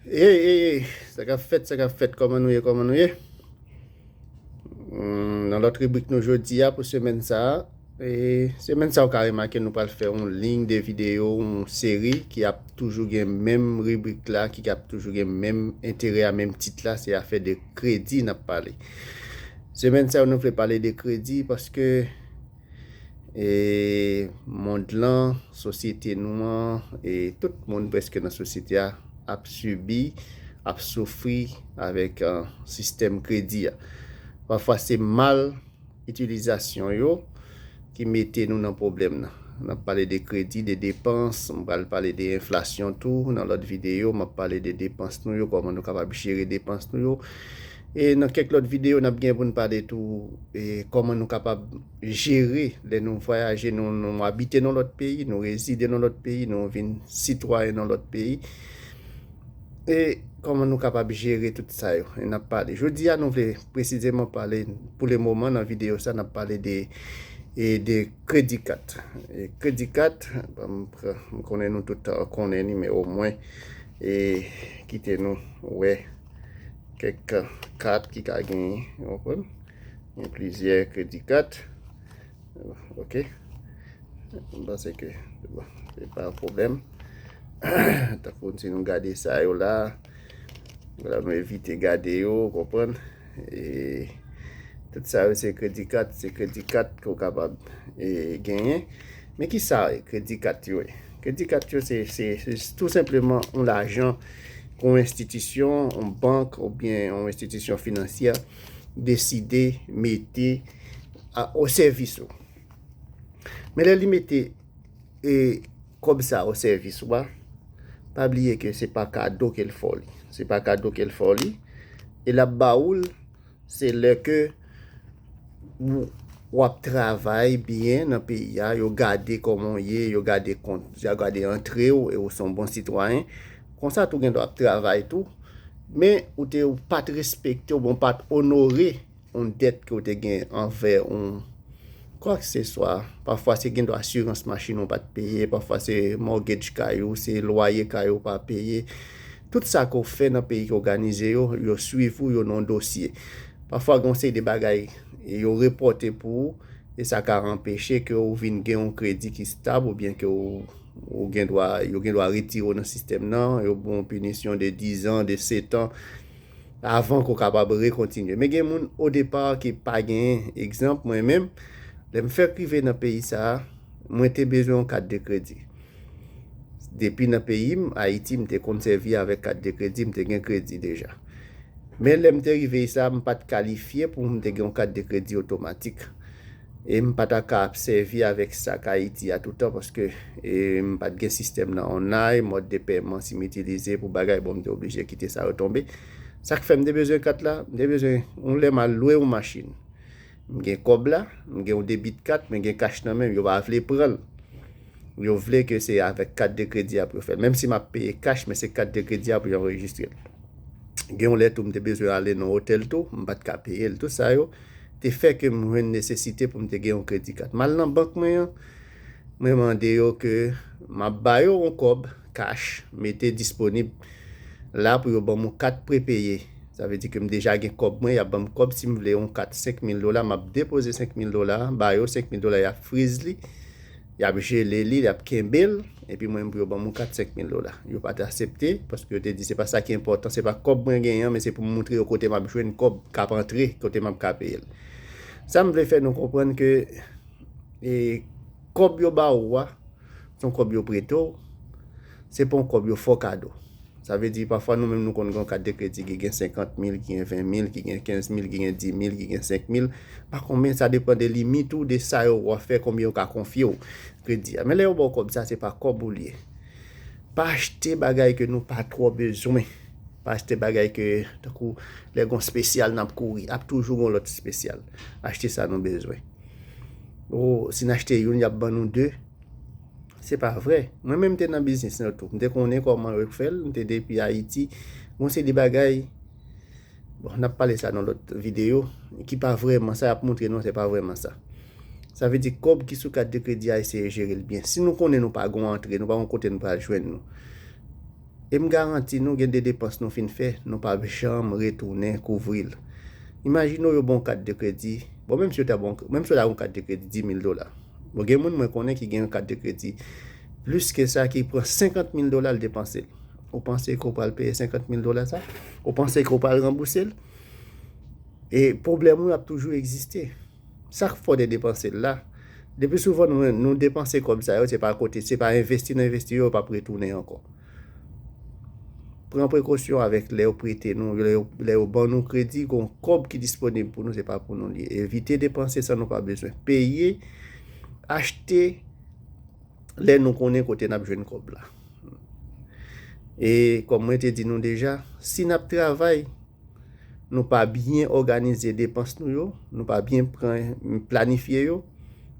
Hey hey hey sa kap fèt sa kap fèt kòman nou ye kòman nou ye hmm, nan lòt ribrik nou jodi a pou semèn sa a e semèn sa ou ka remake nou pral fè yon ling de video yon seri ki ap toujou gen menm ribrik la ki ap toujou gen menm enterè a menm tit la se afè de kredi nap pale semèn sa a nou vle pale de kredi paske mond lan, sosyete nou an, e tout moun preske nan sosyete a ap sibi, ap soufri avèk sistèm kredi a. Pafwa se mal itilizasyon yo ki mete nou nan pwoblèm nan. N ap pale de kredi, de depans, m pral pale de enflasyon tou nan lòt videyo. M ap pale de depans nou yo, kòman nou kapab jere depans nou yo. E nan kèk lòt videyo nap gen pou n pale tou e kòman nou kapab jere lè nou vwayaje nou nou abite nan lòt peyi nou rezide nan lòt peyi nou vin sitwayen nan lòt peyi e kòman nou kapab jere tout sa yo e nap pale jodi a nou vle presizeman pale pou le moman nan videyo sa nap pale de e de kredi kat e kredi kat ban m pran m konnen nou tout konnen li men omwen e kite nou wè kèk kat ki ka gen yon pwen, yon plizyè kredi kat, ok, mwen panse ke, se pa yon problem, ta foun si nou gade sa yo la, la nou evite gade yo, konpwen, e, tout sa yo se kredi kat, se kredi kat ki ou kapab genyen, men ki sa kredi kat yo e? Kredi kat yo se tou senpleman yon lajan ke yon enstitisyon, yon bank oubyen yon enstitisyon finansyè deside mete o sèvis ou. Men lè li mete kòb sa o sèvis ou a, pa bliye ke se pa kado ke l fè w li. Se pa kado ke l fè w li e l ap ba ou l. Se lè ke w ap travay byen nan peyi a, yo gade kòman w ye, yo gade kont, yo gade antre w e ou se yon bon sitwayen. Konsa tou w gen dwa ap travay tou, men ou te ou pa t respekte oubyen ou pa t onore yon dèt ke w te gen anvè yon kwakseswa. Pafwa se gen dwa asirans machin ou pa t peye, pafwa se mortgage kay ou, se lwaye kay ou pa peye. Tout sa ke w fè nan peyi ki òganize yo, yo swiv ou yo nan yon dosye. Pafwa gen yon seri de bagay yo repòte pou ou e sa ka anpeche ke w vin gen yon kredi ki stab oubyen ke w ou gen dwa yo gen dwa retire w nan sistèm nan, yo ban w yon pinisyon de dizan, de setan avan ke w kapab rekontinye. Men gen moun o depa ki pa genyen. Egzanp, mwen menm, lè m fèk rive nan peyi sa a, mwen te bezwen yon kat de kredi. Depi nan peyi m, Ayiti, m te konn sèvi avèk kat de kredi, m te gen kredi deja. Men lè m te rive isa a, m pa t kalifye pou m te gen yon kat de kredi otomatik. E m pa ta ka ap sèvi avèk sak Ayiti a toutan paske m pa t gen sistèm nan online, mòd de pèman si m itilize pou bagay, bon m te oblije kite sa retonbe. Sak fè m te bezwen kat la, m te bezwen yon lè m al lwe yon machin. M gen kòb la, m gen yon debit kat, men gen kach nan men m, yo pa vle pran l. Yo vle ke se avèk kat de kredi a pou yo fè l. Menm si m ap peye kach, men se kat de kredi a pou yo anrejistre l. Gen yon lè tou m te bezwen ale nan otèl tou, m pa t ka peye l. Tout sa yo te fè ke m jwenn nesesite pou m te gen yon kredi kat. M al nan bank mwen an, mwen mande yo ke m ap ba yo yon kòb kach mete disponib la pou yo ban m yon kat prepeye. Sa vle di ke m deja gen kòb mwen, y ap ban m kòb si m vle yon kat senk mil dola, m ap depoze senk mil dola a ba yo, senk mil dola a y ap friz li. Y ap jele li, y ap kenbe l, epi mwen menm pou yo ban m yon kat senk mil dola. Yo pa te asepte, paske yo te di se pa sa ki enpòtan, se pa kòb mwen genyen an, men se pou m montre yo kote m ap jwenn kòb k ap antre, kote m ap ka peye l. Sa m vle fè nou konprann ke kòb yo ba ou a, se yon kòb yo prete w, Se pa yon kòb yo fò kado. Sa vle di pafwa nou menm nou konn gen yon kat de kredi ki gen 50 mil, ki gen 20 mil, ki gen 15 mil, ki gen 10 mil, ki gen 5 mil, pa konbyen sa depan de limit ou, de sa yo wap fè, konbyen yo ka konfye ou kredi a. Men lè yo ba w kòb sa se pa kòb ou li ye. Pa achte bagay ke nou pa twò bezwen. Pa achte bagay ke tankou lè gen yon spesyal nap kouri, ap toujou gen yon lòt spesyal. Achte sa nou bezwen. O, si n achte youn yap ban nou 2. Se pa vre. Mwen menm m te nan biznis lan tou. M te konnen kòman yo fè l. M te depi Ayiti. Gon seri de bagay, bon n ap pale sa nan lòt videyo, ki pa vrèman sa y ap montre nou an se pa vrèman sa. Sa vle di kòb ki sou kat de kredi a eseye jere l byen. Si nou konnen nou pa gon antre, nou pa gon kote nou pral jwenn nou. E m garanti nou gen de depans nou fin fè, nou p ap janm retounen kouvri l. Imajine w yo ban w kat de kredi, bon menm si yo ta ban w, menm si w ta gen yon kat de kredi 10 mil dola. Bon gen moun mwen konnen ki gen yon kat de kredi plis ke sa ki pran 50 mil dola l depanse l. Ou panse ke w pral peye 50 mil dola sa? Ou panse ke w pral ranbouse l? E pwoblèm ou yo ap toujou egziste. Sa k fè w te depanse l la? Lepi souvan nou depanse kòb sa yo se pa kote, se pa envesti nou envesti yo, yo pap retounen ankò. Pran prekosyon avèk lè yo prete nou, lè yo ban nou kredi, gon kòb ki disponib pou nou se pa pou nou li ye. Evite depanse san nou pa bezwen. Peye, achte lè nou konnen kote nap jwenn kòb la. E kòm mwen te di nou deja, si nap travay. nou pa byen òganize depans nou yo, nou pa byen planifye yo,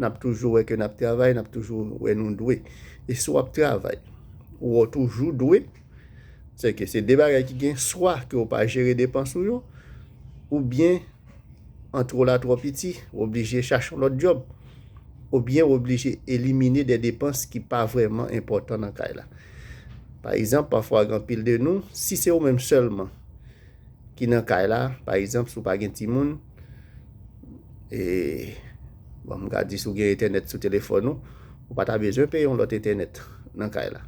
n ap toujou wè ke n ap travay, n ap toujou wè nou dwe. E si w ap travay, ou wè w toujou dwe, se ke se de bagay ki gen, swa ke ou pa jere depans ou yo, ou byen antre w la twò piti, ou oblije chache yon lòt djòb, ou byen ou oblije elimine de depans ki pa vrèman enpòtan nan kay la. Pa egzanp, pafwa gen anpil de nou, si se ou menm sèlman ki nan kay la, pa egzanp, si w pa gen timoun, e, bon, m ka di si w gen entènèt sou telefòn ou, ou pa ta bezwen peye yon lòt entènèt nan kay la.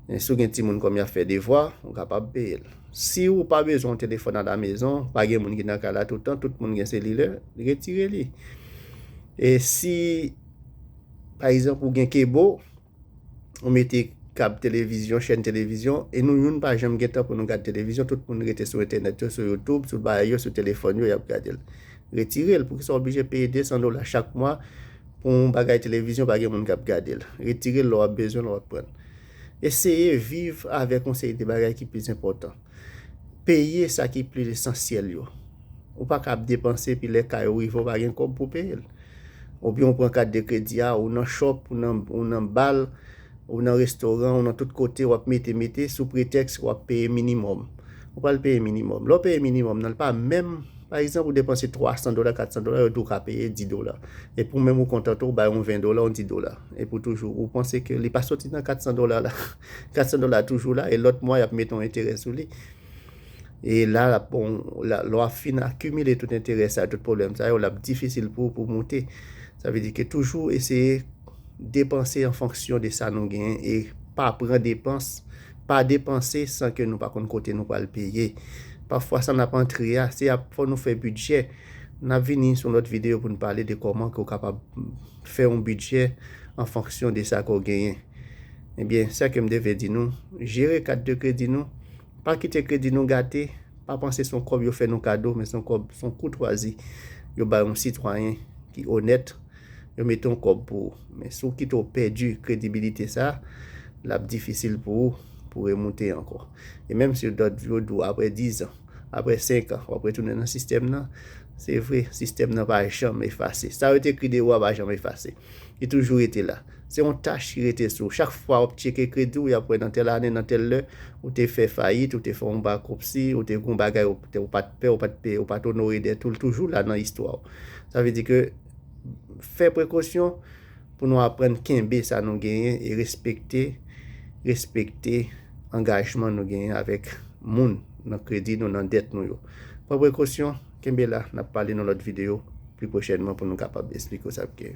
Men si w gen timoun kòm y ap fè devwa, ou kapab peye l. Si ou pa bezwen yon telefòn alamezon, pa gen moun ki nan kay la tout tan, tout moun gen selilè, retire li. E si, pa egzanp, ou gen kebo, ou mete kab televizyon, chèn televizyon, e nou youn pa janm gen tan pou nou gad televizyon, tout moun rete sou entènèt yo, sou youtube, sou bagay yo, sou telefòn yo, y ap gade l. Retire l, poukisa w oblije peye 200 dola chak mwa pou yon bagay televizyon pa gen moun k ap gade l? Retire l lè w ap bezwen l, lè w ap pran l. Eseye viv avèk yon seri de bagay ki plis enpòtan. Peye sa ki plis esansyèl yo. Ou pa ka ap depanse epi lè kay ou rive ou pa gen kòb pou peye l. Oubyen ou pran kat de kredi a, ou nan chòp, ou nan bal, ou nan restoran, ou nan tout kote w ap mete mete sou pretèks w ap peye minimòm. Ou pral peye minimòm. Lè w peye minimòm nan l pa menm, pa egzanp ou depanse 300 dola, 400 dola, yo di w ka peye 10 dola. Epi ou menm ou kontante ou bay yon 20 dola, yon 10 dola. Epi ou toujou, ou panse ke li pa soti nan 400 dola la. 400 dola a toujou la e lòt mwa y ap mete yon enterè sou li. E la l ap, lè w ap fin akimile tout enterè sa yo, tout pwoblèm sa yo, l ap difisil pou ou pou w moute. Sa vle di ke toujou eseye depanse an fonksyon de sa nou genyen e pa pran depans, pa depanse san ke nou pa konn kote nou pral peye. Pafwa sa n ap antre a, se ap fò nou fè bidjè. N ap vini sou yon lòt videyo pou nou pale de kòman ke ou kapab fè yon bidjè an fonksyon de sa ke w genyen. Ebyen, sa ke m te vle di nou, jere kat de kredi nou. Pa kite kredi nou gate, pa panse son kòb yo fè nou kado men son kòb son koutwazi yo bay yon sitwayen ki onèt yo mete yon kòb pou ou men si w kite w pèdi kredibilite sa lap difisil pou ou pou remoute ankò e menm si yo dòt yo di w aprè 10 an aprè 5 an wap retounen nan sistèm nan se vre sistèm nan pa janm efase sa yo te ekri de ou a pa janm efase li toujou rete la Se yon tach ki rete sou ou. Chak fwa wap tcheke kredi w, yap wè nan tèl ane, nan tèl lè, ou te fè fayit, ou te fè yon bakrupsi, ou te gen yon bagay ou pat pè, ou pat peye, ou pat onore dèt ou, li toujou la nan istwa w. Sa vle di ke fè prekosyon pou nou aprann kenbe sa nou genyen e respekte, respekte angajman nou genyen avèk moun nan kredi nou, nan dèt nou yo. Pran prekosyon, kenbe la, nap pale nan lòt videyo pli pwochènman pou nou kapab esplike w sa ki.